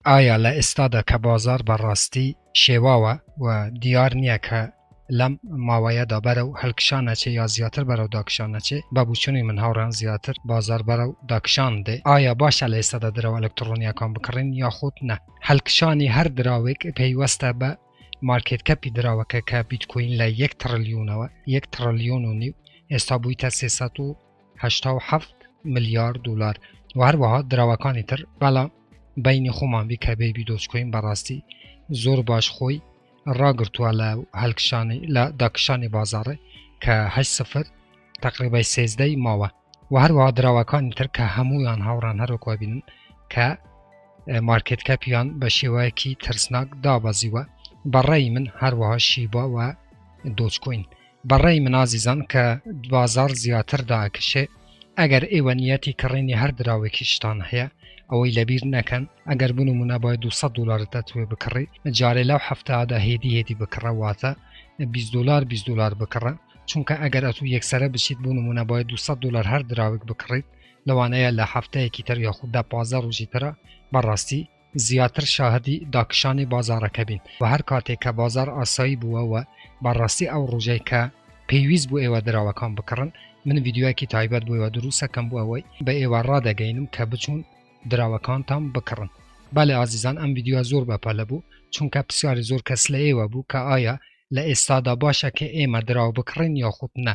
ئایا لە ئێستادا کە بازاڕ بە ڕاستی شێواوە و دیار نییە کە لەم ماوەیەدا بەرەو هەلکشان ئەچێ یا زیاتر بەرەو داکشان ئەچێ، بە بوچونی من هاوڕام زیاتر بازاڕ بەرەو داکشان دێ، ئایا باشە لە ئێستادا دراوە ئەلکتڕۆنییەکان بکڕین یاخود نە؟ هەلکشانی هەر دراوێک پەیوەستە بە مارکێت کەپی دراوەکە کە بیتکۆین لە یەک تڕلیونەوە، یەک تڕلیون و نیو، ئێستا بویتە سێ سەد و هەشتا و حەفت ملیار دولار و هەروەها دراوەکانی تر بەڵام بەینی خۆمان بی کە بەیبی دۆچکۆین بەڕاستی زۆر باش خۆی ڕاگرتووە لە هەلکشانی لە داکشانی بازاڕێ کە هەشت سفر تقریبای سێزدەی ماوە و هەروەها دراوەکانی تر کە هەمویان هاوڕان هەرۆکوە بینن کە مارکت کەپیان بە شێوەیەکی ترسناک دابەزیوە بەڕێی من هەروەها شیبا و دۆچکۆین بەڕای من ئازیزان کە بازاڕ زیاتر داکشێ ئەگەر ئێوە نیەتی کڕینی هەر دراوێکیشتان هەیە ئەوەی لەبیر نەکەن ئەگەر بوون و منەبای 200 دلار دەتوێ بکڕی جارێ لەو هەفتادا هێدی هێدی بکڕەواتە 20 دلار 20 دلار بکڕە چونکە ئەگەر ئەتوو یەکسرە بچیت بوون و منەبای 200 دلار هەر دراوێک بکڕیت لەوانەیە لە هەفتەیەکی تر یاخود دە پازە ڕژی ترە بەڕاستی زیاتر شاهدی داکشانی بازاڕەکە بین و هەر کاتێک کە بازاڕ ئاسایی بووە و بە ڕاستی ئەو ڕۆژەی کە پێویست بوو ئێوە دراوەکان بکڕن من ڤیدیۆیەکی تایبەت بۆ ئێوە درووستەکەم بۆ ئەوەی بە ئێوە ڕادەگەینم کە بچوون دراوەکانتان بکڕن بەڵێ ئازیزان ئەم ڤیدیۆ زۆر بە پەلە بوو چونکە پرسیاری زۆر کەس لە ئێوە بوو کە ئایا لە ئێستادا باشە کە ئێمە دراو بکڕین یاخود نە